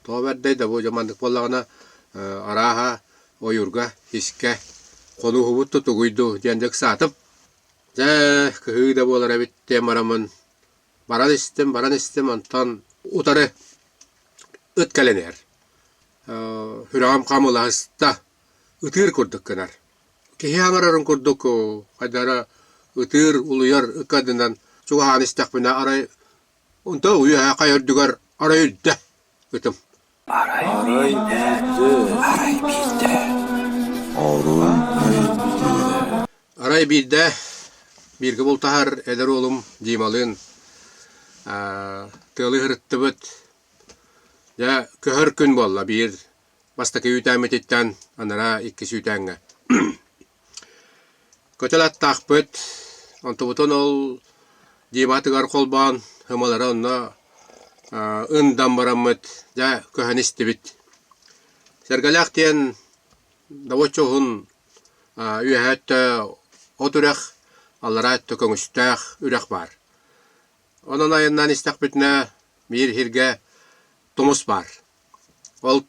Тоҕо бэрдэй да бу маннык буоллаҕына, арааһа, ойуурга, искэ хонуһубут да тугуй дуу диэн да ыксаатым. Дьэ, кыһыы да буолар эбит диэн бараммын, баран истим, баран истим, онтон утары ыт кэлэн иһэр. Сүрэҕим хамылаһыста, ытыыр курдук гынар. Киһи аҥарарын курдук хайдах эрэ ытыыр, улуйар ыккардынан чугаһаан истэхпинэ, арай Онто уйаһа хай үрдүгэр арай үрдэ ытым. Арай биирдэ. Арай биирдэ. Арай биирдэ. Арай биирдэ бииргэ бултаһар эдэр уолум Дималыын тыалы ыһырыттыбыт. Дьэ, көһөр күн буолла биир бастакы үүтээммититтэн анараа икки сүүтээҥҥэ көтөл аттаахпыт онтубутун ол диватыгар холбоон һымалары онно ындам бараммыт дьэ көһөн истибит сэргэлээх диэн доводчо уһун үөһэ өттө от үрэх аллараа өттө көҥүстээх үрэх баар онон айаннаан истэхпитинэ биир иһиргэ тумус баар Ол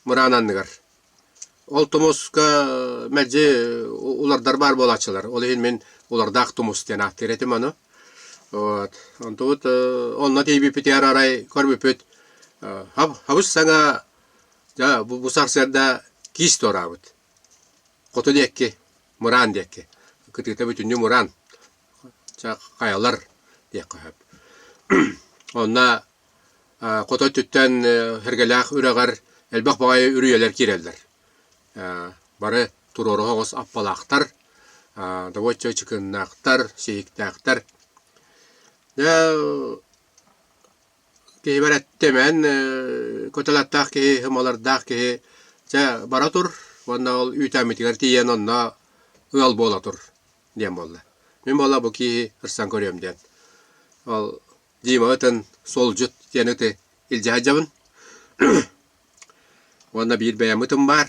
мыраан анныгар. Ол тумуска мэлдьи улардар баар буолааччылар. Ол иһин мин улардаах тумус диэн ааттыыр этим аны. Вот. Онтубут онно тиийбиппитигэр арай көрбүппүт хабыс саҥа дьэ бу сарсыарда киис туораабыт. Хоту диэкки, мыраан диэкки. Кытыыта бүтүннүү мыраан. Чэ, хайалар диэххэ сөп. Онно Хото өттүттэн эргэлээх үрэҕэр элбэх баҕайы үрүйэлэр киирэллэр. Бары туруору соҕус аппалаахтар, довольно чыкыннаахтар, сиһиктээхтэр. Киһибэр эттимэн, кытылаттаах киһи, ымалардаах киһи дьэ бара тур уонна ол үүтээммитигэр тиийэн онно ыал буола тур диэн буолла. Мин буоллар бу киһи ырсан көрүөм диэн. Ол Димаҕа ытан солдьут диэн ыты илдьэ сылдьабын. Уонна биир бэйэм ытым баар.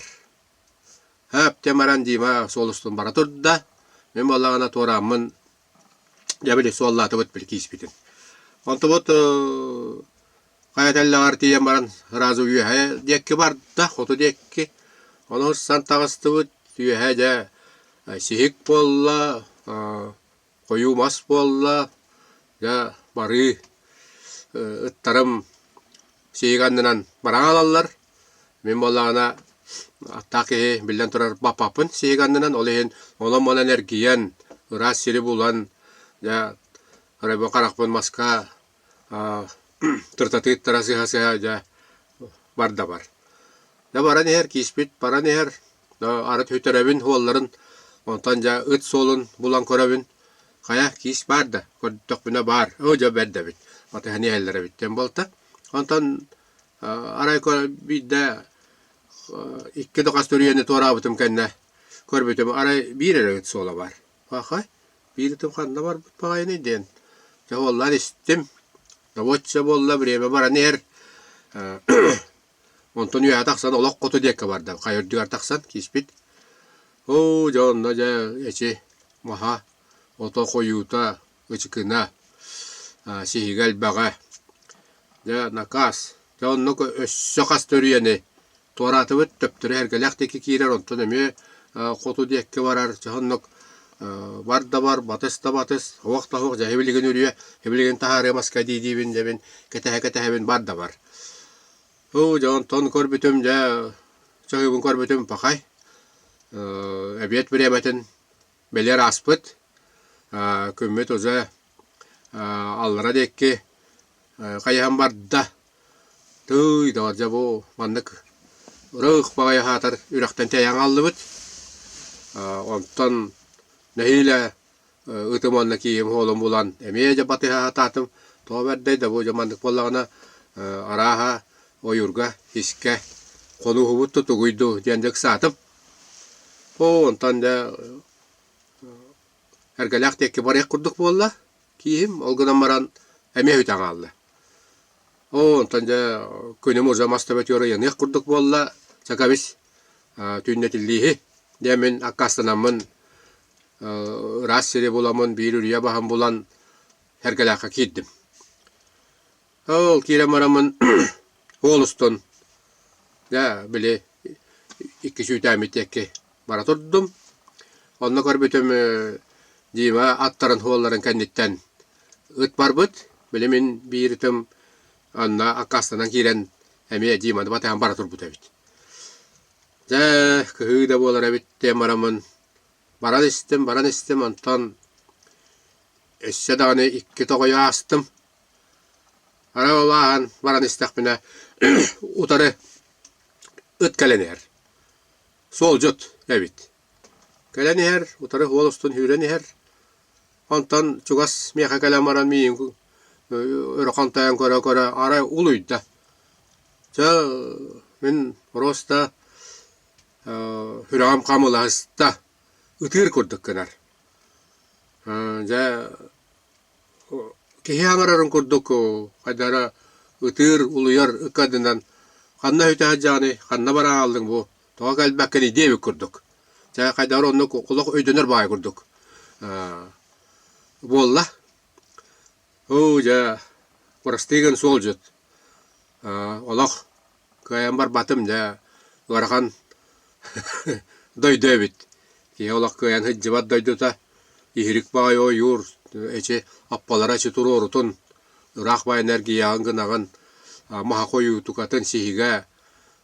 Өптө баран Дима суол устун бара турда. Мин буоллаҕына туорааммын дьэ били суоллаатыбыт били кииспитин. Онтубут хайа тэллэҕэр тиийэн баран сразу үөһэ диэкки барда, хоту диэкки. Ону сан таҕыстыбыт. Үөһэ дьэ сиһик буолла. хойуу мас буолла, дьэ барыы ыттарым сиһиги аннынан баран хаалаллар. Мин буоллаҕына аттаах киһи биллэн турар баппаппын сиһиги аннынан, ол иһин онон-манан эргийэн, ыраас сири булан, дьэ харайбакка харахпын маска Тыртатыыттара сыһа-сыһа дьэ бар да бар. Дьэ баран иһэр кииспит, баран иһэр, арыт үтүрэбин уолларын, онтон дьэ ыт суолун булан көрөбүн, хайа киис баар да, көрдөхпүнэ баар, оо дьэ бэрдэбит, аты һэни иһэллэрэбит диэн буолта. Онтон арай биирдэ икки да хас төрүйэни туораабытым кэннэ көрбүтүм, арай биир эрэ ыт суола баар. Аха, биирдим ханна барбыт баҕайыный диэн. Дьэ уоллар истим. Доводче буолла, время баран иһэр. Онтон үөһэ тахсан олох хоту диэккэ бардым. Хайа үрдүгэр тахсан киспит. Оо, дьэ онно дьэ эчи маһа, ото хойуута, ычыкына, сиһигэ элбэҕэ. Дьэ накаас. Дьэ онно өссө хас төрүйэни туораатыбыт, төптөрө эргэлэх диэки киирэр, онтон эмиэ хоту диэкки барар. Чэ оннук бар да бар, батыс да батыс, уох да уох, дьэ эбилигин үрүө, эбилигин таһаарыа маска дии-диибин дэбин, кэтэһэ-кэтэһэбин бар да бар. Оо дьэ онтон көрбүтүм дьэ чоһуйбун көрбүтүм пахай эбиэт бириэмэтин бэлиэр ааспыт. Күммүт уже аллара диэки хайыһан барда. Тыый, доҕордьо, бу маннык ырыых баҕайы аһаатар үрэхтэн тиэйэн аҕаллыбыт. Онтон нэһиилэ ыытым уонна кииһим уолум булан эмиэ дьэ батыһа аһатаатым. Тоҕо бэрдэй да бу дьэ маннык буоллаҕына арааһа ойуурга, һиискэ хонууһубут да тугуй дуу диэн дьэ ыксаатым. Оо, онтон дьэ эргэлээх диэкки барыах курдук буолла. Киһим ол гынан баран эмиэ үтэ хаалла. Оо, онтон дьэ күнүм уже мас төбөтүгэр ыйаныах курдук буолла. Чакабис, түүннэтиллииһи. Дьэ мин аккаастанаммын ыраас сири буламмын, биир үрүйэ баһын булан, Эргэлээххэ киирдим. Ол киирэн бараммын уол устун дьэ били икки сүүтээммитиэкки бара турдум. Онно көрбүтүм ээ Дима аттарын уолларын кэнниттэн ыт барбыт. Били мин биир ытым онно аккаастанан киирэн эмиэ Диманы батыһан бара турбут эбит. Дьэ кыһыы да буолар эбит диэн бараммын баран истим, баран истим, онтон өссө даҕаны икки тоҕойу аастым. Аны улахан баран истэхпинэ утары ыт кэлэн иһэр. Суолдьут эбит. Кэлэн иһэр, утары уол устун сүүрэн иһэр. Онтон чугас миэхэ кэлэн баран миигин өрө хантайан көрө-көрө арай улуйда. Чэ мин просто сүрэҕим хамылаһыста. Ытыыр курдук гынар. Дьэ Киһи абарарын курдук хайда эрэ ытыыр, улуйар ыккардынан ханна сүтэ сылдьаҕыный, ханна баран хааллыҥ бу, тоҕо кэлбэккиний диэ эбит курдук. Дьэ хайдах эрэ оннук олох өйдөнөр баҕайы курдук. буолла. Оо дьэ, бырастыы гын суолдьут. олох Кыайан барбатым дьэ ыарахан дойду эбит. Киһи олох кыайан сылдьыбат дойдута иһирик баҕайы ойуур, эчи аппалара эчи туруорутун, ыраах баайын эргийэҕин гынаҕын, маһаха ойуутукатын сиһигэ.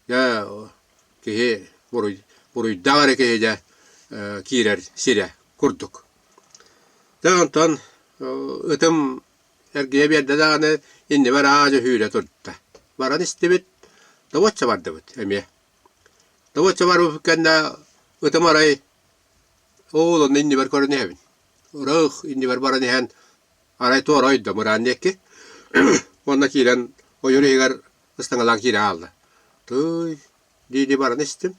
Дьэ киһи буруйдаах эрэ киһи дьэ киирэр сирэ курдук. Дьэ онтон ытым Эргийэ биэрдэ даҕаны, иннибэ араадьы үүрэ турда. Баран истибит, добуочча бардыбыт эмиэ. Добуочча барбыппыт кэннэ ытым арай ол онно иннибэр көрөн иһэбин. Ырыых иннибэр баран иһэн арай туорайдым ыраан диэки. Уонна киирэн ойуур иһигэр ыстаҥалаан киирэ хаалла. Тыый, дии-дии баран истим.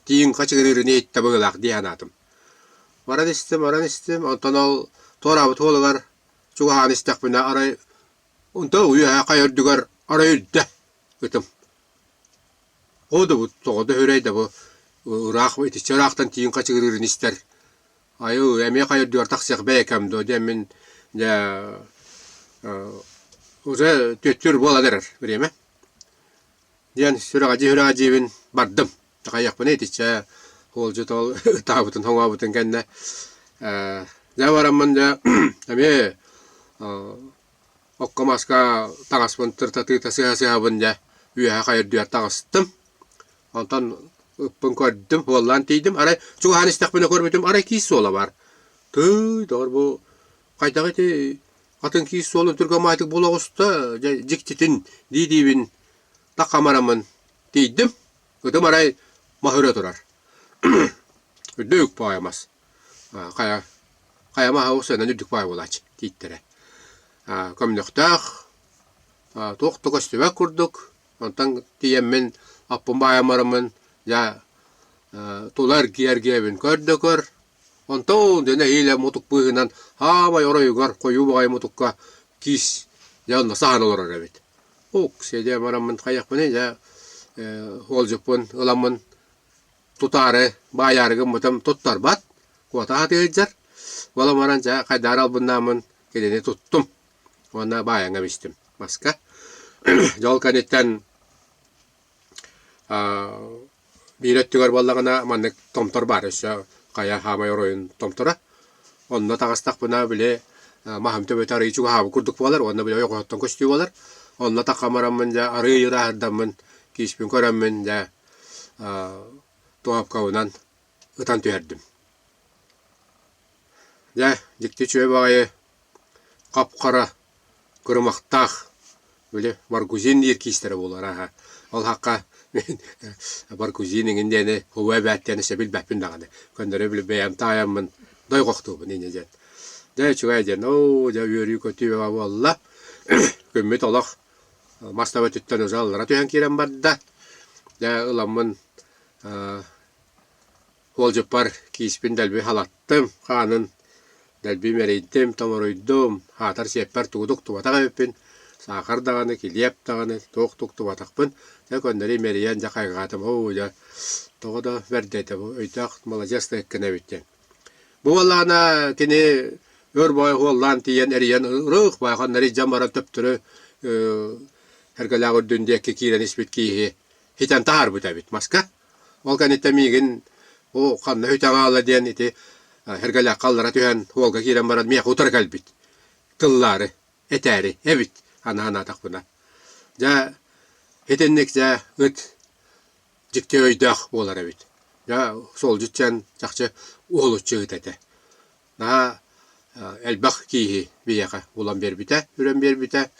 Тииҥ хачы гына үрүнэ иттэ быгылаах дии санаатым. Баран истим, баран истим, онтон ол туораабыт уолугар чугаһаан истэхпинэ арай онто үөһэ хайа үрдүгэр арай үрдэ ытым. Оо да бу тоҕо да үһүрэй да бу ыраах итиччэ ыраахтан тииҥ хачыгыр үрүнэ истэр. Айыы эмиэ хайа үрдүгэр тахсыах бэйэкэм дуо диэн мин дьэ уже түөттүүр буолан эрэр бириэмэ. диэн сүрэҕэдьиһи-үрэҕэдьиибин бардым. Аҕыйахпына итиччэ уолдьутол ытаабытын, хоҥообутун кэннэ э дьэ бараммын дьэ эмиэ окко-маска таҥаспын тыртатыыта сыһа-сыһабын дьэ үөһэ хайырдыгар таҕыстым. Онтон ыппын көрдүм, уоллаан тиийдим. Арай чугаһаан истэхпинэ көрбүтүм, арай киис суола баар. Тыый, доҕор бу хайдах ити атын киис суолун түргэ маайтык буола оҕуста, дьэ дьиктитин дии-диибин такамарамын тиийдим, ытым арай маһыра турар. Үрдэ үк паайамас. Хайа хайа маһа ол сыанан үрдүк паай буолааччы тииттэрэ. Көмнөхтөөх туох да көстүбэт курдук, онтон тиийэммин аппын баайамарамын, дьэ тула эргийэ-эргийэбин көр да көр, Онтон дэнэһиилэ мутук быыһынан аамай оройугар хойуу баҕайы мутукка киис дьэ онно саһан олорор эбит. Ук, сиэдиэн бараммын хайахпыный дьэ уолдьуппун ыламмын тутаары баайаары гыммытым туттарбат, куота аһатыы сылдьар. Буолан баран дьэ хайдаары албыннааммын кинини туттум уонна баайан кэбистим маска. Дьэ ол кэнниттэн Биир өттүгэр буоллаҕына маннык томтор баар өссө хайа хаамай оройун томторо. Онно таҕыстахпына били маһым төбөтө арыый чугаһаабыт курдук буолар уонна били ойоҕоһуттан көстүү буолар. Онно такхан бараммын дьэ арыый ырааһырдаммын, кииспин көрөммүн дьэ туоһапкабынан ытан түһэрдим. Дьэ дьикти үчүгэй баҕайы Хап-хара, кырымахтаах, били баргузин иэркиистэрэ буолар аһа. Ол аһахха мин баргузин эҥин диэни һуа эбээт диэни сөбү билбэппин даҕаны. Көннөрү били бэйэм таайаммын дойҕохтуубун инньэ диэн. Дьэ үчүгэй диэн оо дьэ үөрүү-көтүү буолла. Күммүт олох мас таба өттүттэн ылдьа аллара түһэн киирэн барда. Дьэ ыламмын Уолдьуппар кииспин дэлби халаттым, хаанын дэлбим эрэйдим, толоруйдум, аатар сиэппэр тугу да уктубатах эбиппин, саахар даҕаны, килиэп даҕаны туох да уктубатахпын, дьэ көннөрү имэрийэн дьэ хайҕаатым, оо дьэ тоҕо да бэрдэ этэ бу өйдөөх маладьыасна эккэнэбит диэн. Бу буоллаҕына кини өр баҕайы уоллаан тиийэн эрийэн ырык байханнары дьон баран төптөрү эргэлээх үрдүн диэки киирэн испит киһи Итэн таһаарбыта эбит маска. Ол кэнниттэн миигин «О, ханна үтэ хаала» диэн ити эргэлээххэ аллара түһэн уолга киирэн баран миэхэ утары кэлбит. Тыллаары, этээри эбит аны санаатахпына. Дьэ итинник дьэ ыт дьикти өйдөөх буолар эбит. Дьэ солдьут дьэн чахчы уолуччу ыт этэ. Наһаа элбэх кииһи биһиэхэ булан биэрбитэ, үрэн биэрбитэ.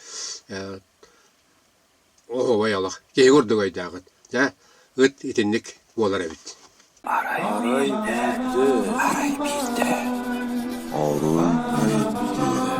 Оо, убай-алах, киһи курдук өйдөөҕүт. Дьэ, ыт итинник буолар эбит. Арай биирдэ. Арай биирдэ. Орун өйдүүр.